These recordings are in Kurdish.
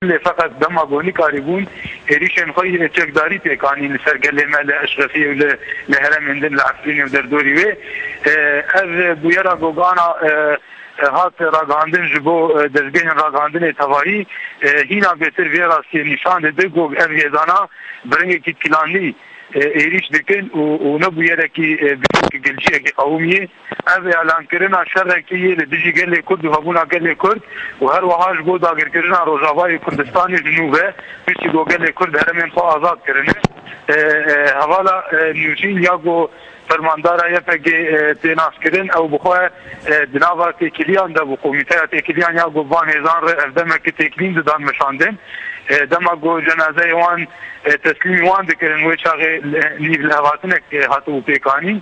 Lê feqet dema gonî karîbûn êrîşên xwe yê çekdarî pêk anîn li ser gelê me li Eşrefiyê û li heremên din li Efrînê û derdorî wê. Ev bûyera gogana hat ragihandin ji bo dezgehên ragihandinê tevahî hîna bêtir vê rastiyê nîşan dide, gog ev hêzana bi rengekî pilanî, êrîş dikin û ne bûyerekî girîng gilciyekî qewimiyê. Ev îlankirina şerekî yê li dijî gelê Kurd û hebûna gelê Kurd û her wiha ji bo dagirkirina Rojavayê Kurdistanê ji nû ve, piştî ku gelê Kurd heremên xwe azad kirine. Hevala nûçîn ya ku. Fermandara YPG'ê tê naskirin, ew bi xwe di nava têkiliyan de bû. Komîteya têkiliyan ya ku van hêzan re ev demeke têkilîn didan meşandin, dema ku cenazeyê wan teslîmî wan dikirin wê çaxê nîvlihevatinek hatibû pêkanîn.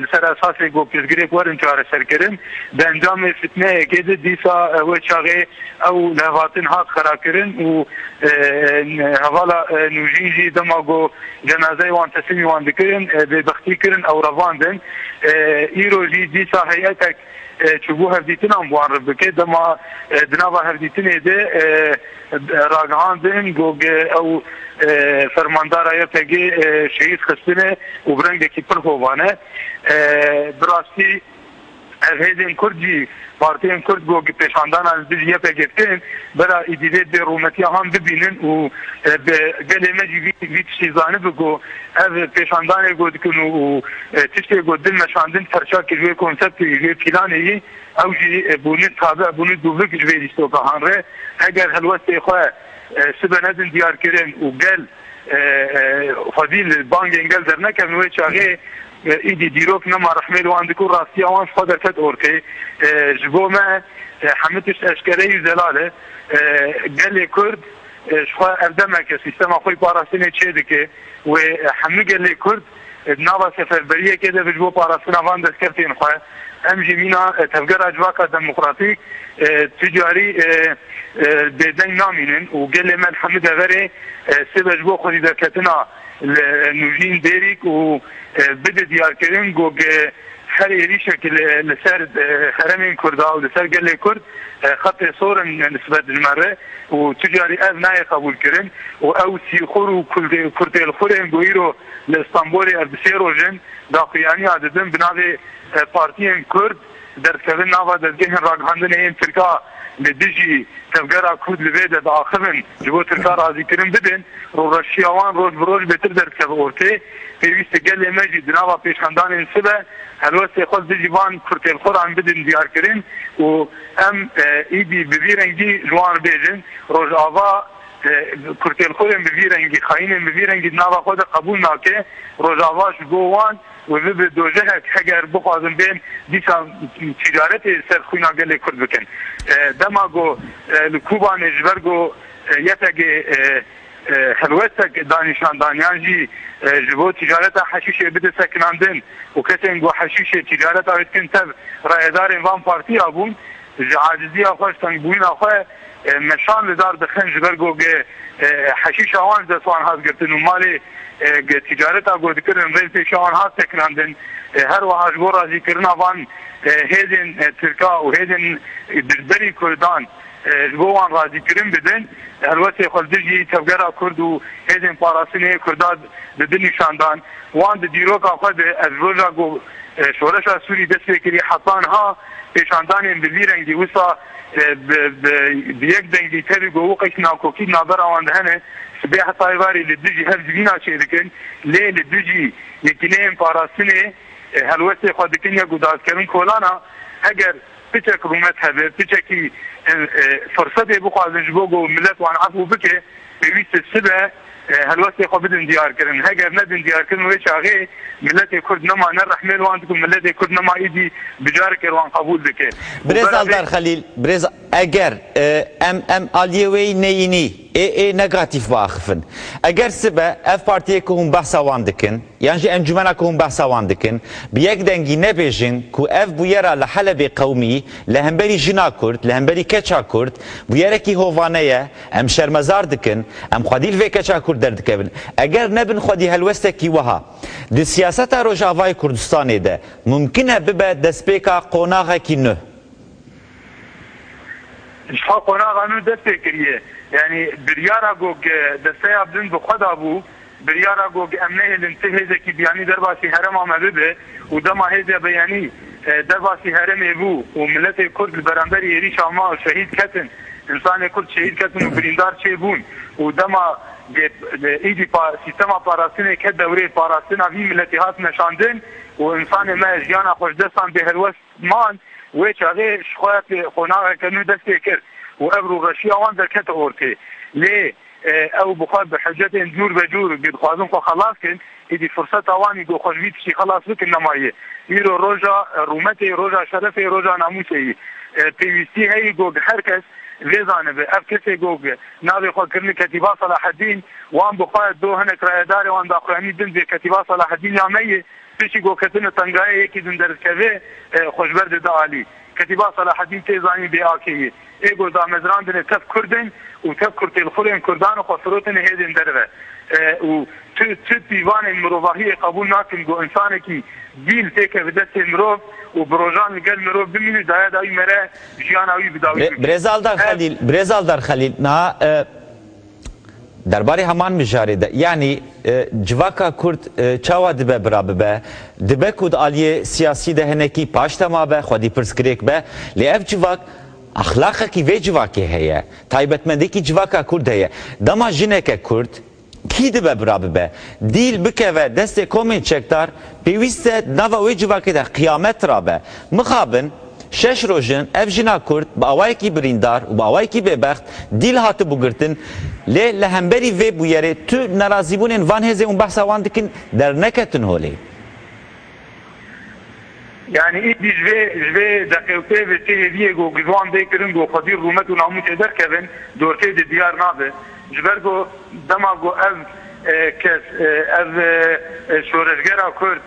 Li ser esasê ku pirsgirêk werin çareserkirin, di encamê fitneyekê de dîsa wê çaxê ew lihevatin hat xerakirin û hevala nûjîn jî dema ku Cenazeyê wan teslîmî wan dikirin, bêbextî kirin ew revandin. Îro jî dîsa heyetek çûbû hevdîtinan bi wan re bike. Dema di nava hevdîtinê de ragihandin got ew fermandara YPG şehîd xistine û bi rengekî pir hovane. Bi rastî. Ev hêzên kurd jî partiyên kurd ku gi pêşandanan li dijî YPG tên, bira êdî vê bê rûmetiya han bibînin û bi gelê me jî vî tiştî zanibi ku ev pêşandanê ku dikin û tiştê ku din meşandin perça kir wê konseptê yî, wê pîlanê yî ew jî bûnin tabe, bûnin dûvik ji vê lîstoka han re. Heger helwestê xwe sibe nedin diyarkirin û gel. Xwedîl bangên gel dernekevin wê çaxê îdî dîrok nema rehmê li wan dikû rastiya wan ji xwe derket ortê. Ji bo me hemû tişt eşkere yû zelal e. Gelê Kurd ji xwe ev demeke sîstema xwe yî parastinê çêdike wê hemû gelê Kurd Di nava seferberiyekê de ji bo parastina van destkeftên xwe em jî mîna Tevgera Civaka Demokratîk tu carî bêdeng namînin û gelê me li hemû deverê sêve ji bo xwedîderketina li nûjîn Dêrîk û bide diyarkirin ku Her êrîşek li ser heremên Kurda û li ser gelê Kurd xetê sor in nisbet ji me re û tu carî ev nayê qebûlkirin û ew sîxur û kurtêlxurên ku îro li Îstanbûlê ev bi sê roj in daxuyaniya didin bi navê partiyên Kurd derdikevin nava dezgehên ragihandinê yên Tirka li dijî tevgera Kurd li vê de diaxivin ji bo Tirka razîkirin bidin rûreşiya wan roj bi roj bêtir derdikeve ortê. Pêwîst e gelê me jî di nava pêşandanên sibe helwestê xwe dijî van kurtêlxweran bidin diyarkirin û em êdî bi vî rengî ji wan re bêjin Rojava kurtêlxwerên bi vî rengî, xayînên bi vî rengî di nava xwe de qebûl nake. Rojava ji bo wan wê bibe dojehek heger bixwazin bên dîsa tîcaretê li ser xwîna gelê Kurd bikin. Dema ku li Kûbanê ji ber ku YPG Helwestek danîşandaniyan jî ji bo tîcareta heşîşê bide sekinandin û kesên ku heşîşê tîcareta wê dikin tev rayedarên van partiya bûn ji aciziya xwe ji tengbûyina xwe meşan li dar dixin ji ber ku heşîşa wan ji dest wan hat girtin û malê tîcareta ku dikirin rê li pêşiya wan hat sekinandin her wiha ji bo razîkirina van hêzên tirka û hêzên dijberî kurdan Ji bo wan razîkirin bidin, helwestê xwe li dijî Tevgera Kurd û Hêzên Parastinê Kurda di di nîşan dan. Wan di dîroka xwe de ev roja ku şoreşa Sûrî dest pê kirî heta niha pêşandanên bi vî rengî wisa bi bi yek dengî tevî gowiqekî nakokî di navbera wan de hene sibê heta êvarê li dijî hev civîna çê dikin lê li dijî Yekîneyên Parastinê helwestê xwe dikin ya ku dazkevin kolana heger Piçek rûmet hebe, piçekî firsetê bixwazin ji bo ku milet wan efû bike, pêwîst e sibe helwestê xwe bidin diyarkirin. Heger nedin diyarkirin wê çaxê miletê Kurd nema ne rehmê li wan dike û miletê Kurd nema îdî bi careke li wan qebûl dike. Birêz Eldar Xelîl, birêz eger em em aliyê wê yî neyînî, Ê ê negatîf biaxifin. Eger sibe ev partiyê ku hûn behsa wan dikin yan jî encûmena ku hûn behsa wan dikin bi yek dengî nebêjin ku ev bûyera li Helebê qewimî li hemberî jina Kurd, li hemberî keça Kurd bûyerekî hovane ye, em şermezar dikin, em xwedî li vê keça Kurd derdikevin. Eger nebin xwedî helwestekî wiha di siyaseta Rojavayê Kurdistanê de mumkin e bibe destpêka qonaxekî nuh. Jixwe qonaxa nû dest pê kiriye. Yanî biryara ku desteya bin bi xwe dabû, biryara ku em nehêlin ti hêzekî biyanî derbasî herêma me bibe û dema hêzê biyanî derbasî herêmê bû û miletê kurd li beramberî êrîşa ma şehîd ketin, însanê kurd şehîd ketin û birîndar çê bûn û dema îdî sîstema parastinê ket dewrê parastina vî miletî hat meşandin û însanê me jiyana xweşdestan bê helwest Man wê çavê ji xwe pê qonaxeke nû dest pê kir û ev rûveşiya wan derkete ortê. Lê ew bi xwe bi hicetên cûr be cûr ku dixwazin xwe xelas kin, êdî firseta wan î ku xwe ji vî tiştî xelas bikin nemaye. Îro roja rûmetê, roja şerefê, roja namûsê ye. Pêwîstî heye ku her kes vê zanibe ev kesê ku navê xwe kirine Ketîba Selahedîn, wan bi xwe do hinek rayedarê wan daxuyanî din vê Ketîba Selahedîn ya me ye, Piştî ku ketine tengayê yekî din derdikeve xwe ji ber dide alî. Ketîba Selahedîn tê zanîn bê akê ye. Ê got damezrandine tev kurd in û tev kurtêlxurên kurdan xwe firotine hêdên derve. Û tu tu pîvanên mirovahiyê qebûl nakin ku însanekî dîl pêke bi destê mirov û bi rojan li gel mirov bimîne daya dawî mere jiyana wî bi dawî bikê. Birêz Aldar Xelîl Birêz Aldar Xelîl niha. Derbarê heman mijarê de, yanî civaka kurd çawa dibe bira bibe, dibe ku di aliyê siyasî de hinekî paştema be, xwedîpirsgirêk be, lê ev civak exlaqekî vê civakê heye, taybetmendîyekî civaka kurd heye. Dema jineke kurd kî dibe bira bibe, dîl bikeve destê komên çekdar, pêwîst e di nava wê civakê de qiyamet rabe. Mixabin. Şeş roj in ev jina kurd bi awayekî birîndar û bi awayekî bêbext dîl hatibû girtin lê li hemberî vê bûyerê tu nerazîbûnên van hêzê hûn behsa wan dikin derneketin holê. Yanî îdî ji vê ji vê deqê û pê ve çi hêviyê ku ji wan bê kirin ku xwedî rûmet û namûsê derkevin dortê de diyar nabe. Ji ber ku dema ku ev kes ev şoreşgera kurd,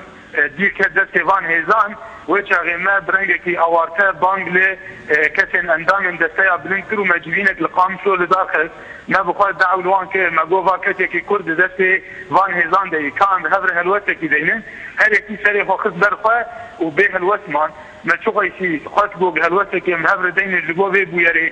Dîl ket destê van hêzan. Wê çaxê me bi rengekî awarte bang li kesên endamên desteya bilind kir û me civînek li Qamşlo li dar xist. Me bi xwe dew li wan kir. Me got va kesekî Kurd di destê van hêzan de yî. Ka em bi hev re helwestekî bînin. Her yekî serê xwe xist ber xwe û bê helwest man. Me çixweşî xwest got helwestekî em bi hev re deynê ji bo vê bûyerê.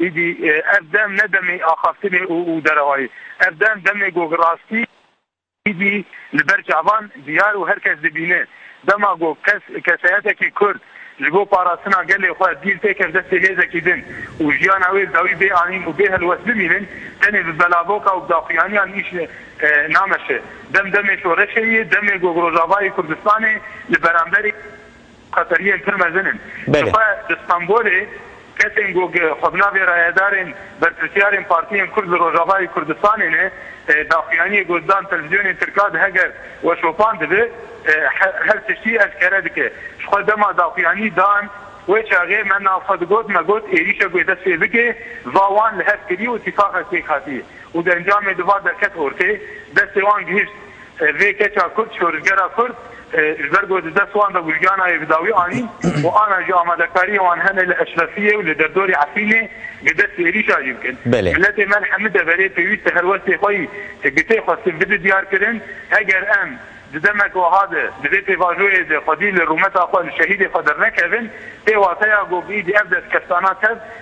Êdî ev dem ne demê axaftinê û derehayê. Ev dem demê ku rastî êdî li ber çavan diyar û her kes dibîne. Dema ku kes keseyetekî Kurd ji bo parastina gelê xwe dîl tê ker destê hêzekî din û jiyana wê li dawî bê anîn û bê helwest bimînin, tenê bi belavoka û bi daxuyaniyan îş nameşe. Dem demê şoreşê yê, demê ku Rojavayê Kurdistanê li beramberî. Qeteriyên pir mezin in. Ji xwe di Stenbolê kesên ku xwe bi navê rayedarên berpirsyarên partiyên Kurd li Rojavayê Kurdistanê ne, daxuyaniyê ku dan telvîzyonên Tirka di heger we şopan dibe, her tiştî eşkere dike. Ji xwe dema daxuyanî dan, wê çaxê me nav xwe digot, me got êrîşek wê dest pê bike, va wan li hev kirî û tîfaqek pêk hatî û di encamê di va derket ortê, destê wan gihişt. Vê keça kurd şorijgera kurd ji ber ku di dest wan de bû jiyana wê bi dawî anîn û ana jî amadekariyên wan hene li Eşrefiyê û li derdorê Efrînê bi dest êrîşa jî bikin. Miletê me li hemû deverê pêwîst e helwestê xwe yî gitê xwe siv bide diyarkirin. Heger em di demek wiha de di vê pêvajoyê de xwedî li rûmeta xwe li şehîdê xwe dernekevin pêwateya ku bi îdî ev destkeftana tev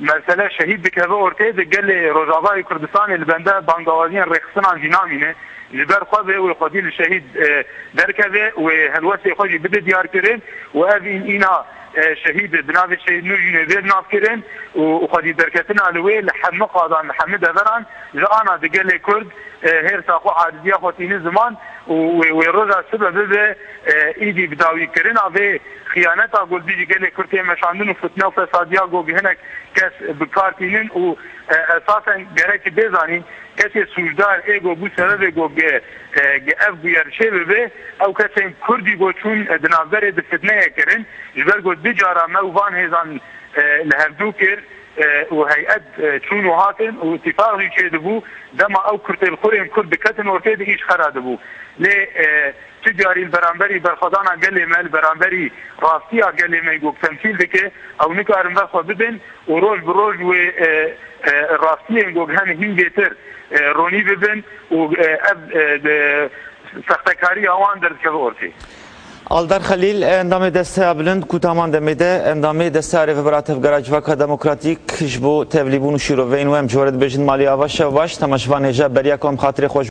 Mersele şehîd dikeve ortê de gelê Rojava yê Kurdistanê li benda bangewaziyên rêxistinan jî namîne. Ji ber xwe vê wê xwedî li şehîd derkeve wê helwestê xwe jî bide diyar kirin û ev în îna şehîd bi navê Şehîd Nûjînê vê nav kirin û xwedî derketina li wê li hemû qadan li hemû deveran ji ana di gelê Kurd hêrsa xwe aciziya xwe tînin ziman û wê wê roja sibe bibe îdî bi dawî kirina vê Xiyaneta Gulbî ji gelê Kurd tê meşandin û fitne û fesadiya ku hinek kes bi kar tînin û esasen gerek bê zanîn kesê sûcdar ê ku bû sebebê ku ev bûye li şê bibe ew kesên Kurdî ku çûn di navberê di fitneyê kirin ji ber ku du cara me û van hêzan li hevdû kir û heyet çûn û hatin û îtîfaq jî çêdibû dema ew kurtêlxurên Kurd diketin ortê di îşxera dibû lê Tu carî li beramberî berxwedana gelê me, li beramberî rastiya gelê me ku temsîl dike, ew nikarin ver xwe bidin û roj bi roj wê rastiyên ku hene hîngêtir ronî bibin û ev sextekariya wan derdikeve ortê. Aldar Xelîl, Endamê Desteya Bilind ku taman demê de endamê Desteya Rêvebira Tevgera Civaka Demokratîk ji bo Tevlîbûn û Şîroveyên û em ji we re dibêjin malê ava şev baş, tema ji van hêja beriya ku em xatirê xwe ji